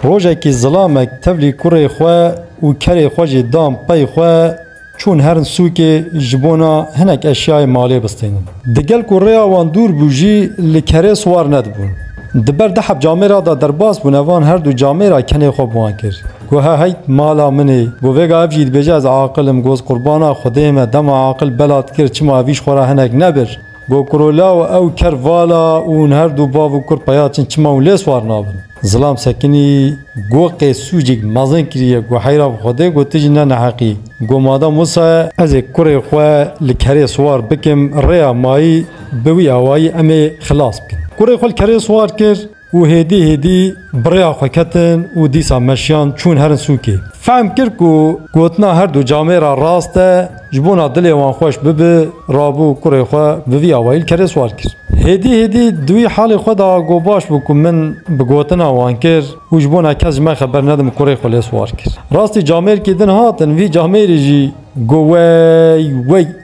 Rojekî zilamek tevlî kurê xwe û kerê xwe jî dan pey xwe, çûn herin sûkê ji bona hinek eşyayê malê bistînin. Di gel ku rêya wan dûr bû jî li kerê siwar nedibûn. Di ber diheb camêra de derbas bûne van her du camêra kenê xwe bi wan kir. Goha heyt mala min ê. Got vêga ev jî dibêje ez aqil im, goz qurbana xwedê me dema aqil bela dikir çima evîş xwe ra hinek nebir. Gokurola û ew ker vala û hûn her du bav û kur peya çin çima hûn lê swar nabin. Zilam Sekinî go qê sûcik mezin kiriye go heyra bi Xwedê go tu jî ne neheqî go madem wisa ye, ez ê kurê xwe li kerê swar bikim rêya mayî bi wî awayî em ê xilas bikin. Kurê xwe li kerê swar kir. Û hêdî hêdî bi rêya xwe ketin û dîsa meşiyan çûn herin sûkê. Fehm kir ku gotina her du camê re rast e, ji bona dilê wan xweş bibe, rabû kurê xwe bi vî awayî li kerê swar kir. Hêdî hêdî di wî halê xwe de got baş bû ku min bi gotina wan kir û ji bona kes ji me xeber nedim kurê xwe lê swar kir. Rastî camêrkî din hatin vî camêrî jî got wey wey.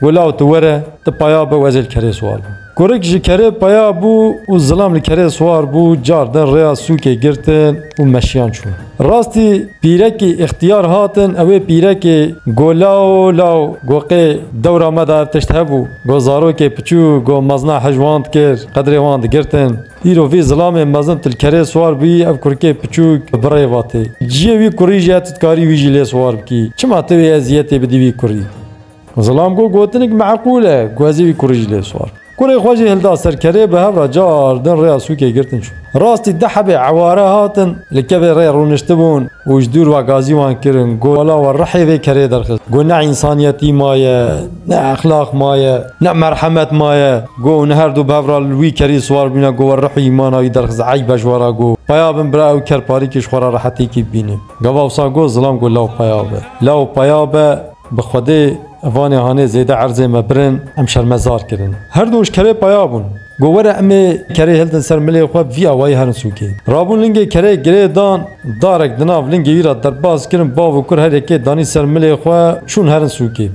Wila û tu were, tu paya bi wezê li kerê siwar bû. Kurik ji kerê paya bû û zilam li kerê siwar bû, car din rêya sûkê girtin û meşiyan çûn. Rastî pîrekî îxtiyar hatin, ew ê pîrekê got Law law, got qê dewra me de ev tişt hebû, got zarokê piçûk, got mezina hij wan dikir, qedrê wan digirtin. Îro vî zilamê mezin tu li kerê siwar bûyî, ev kurikê piçûk bi birê vatê. Ciyê wî kurî jî ye, tu dikarî wî jî lê siwar bikî. Çima tu wê eziyetê bidî wî kurî? Zilam got gotinik meqûl e, guhezê wî kurê jî lê swar. Kurê xwe jî hilda ser kerê bi hev re car din rêya sûkê girtin çûn. Rastî di hebê eware hatin li kevê rê rûniştibûn û ji dûr ve gazî wan kirin got wela we rihê vê kerê derxist. Got ne însaniyetî maye, ne exlaq maye, ne merhemet maye. Got hûn her du bi hev re li wî kerî swar bûne got we rih û îmana wî derxist eyb e ji we re got peya bin bira ew ker parîkê ji xwe re rehetêkî bibîne. Gava wisa got zilam got law peya be. Law peya be. Bi xwedê vanê hanê zêde erzê me birin, em şermezar kirin. Her du ji kerê paya bûn. Got were em ê kerê hildin ser milê xwe bi vî awayî herin sûkê. Rabûn lingê kerê girê dan, darek di nav lingê wî re derbas kirin bav û kur her yekê danî ser milê xwe çûn herin sûkê.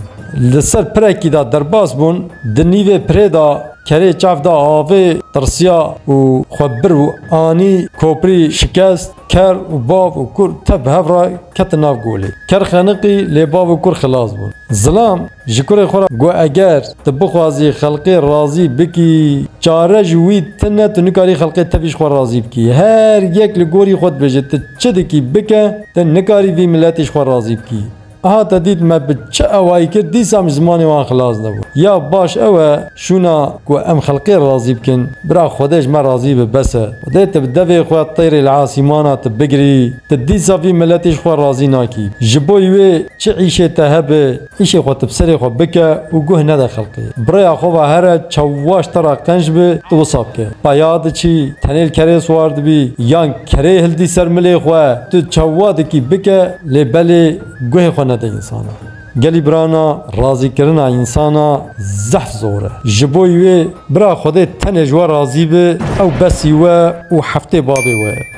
Li ser pirekî de derbas bûn, di nîvê pirê de kerê çav da avê, tirsiya û xwe bir û anî, koprî şikest. Ker û bav û kur tev bi hev re ketin nav golê. Ker xeniqî lê bav û kur xilas bûn. Zilam ji kurê xwe re got eger tu bixwazî xelkê razî bikî çare ji wî tine tu nikarî xelkê tevî ji xwe razî bikî. Her yek li gorî xwe dibêje tu çi dikî bike tu nikarî vî miletî ji xwe razî bikî. Aha te dît me bi çi ewayî kir dîsa min zimanê wan xilas nebû. Ya baş ew e şûna ku em xelkê razî bikin. Bira Xwedê ji me razî be bes e. Xwedê tu bi devê xwe têrê li asîmana tu bigirî. Tu dîsa vî miletî ji xwe razî nakî. Ji bo wê çi îşê te hebe îşê xwe tu bi serê xwe bike û guh nede xelkê. Bi rêya xwe ve here çawaş te re qenc be tu wisa bike. Peya diçî, tenê li kerê siwar dibî yan Kerê hildî ser milê xwe tu çawa dikî bike lê belê guhê xwe nede însanan. Gelî birana razîkirina însana zehf zor e. Ji bo wê bira Xwedê tenê ji we razî bi ew besî we û heftê babê we ye.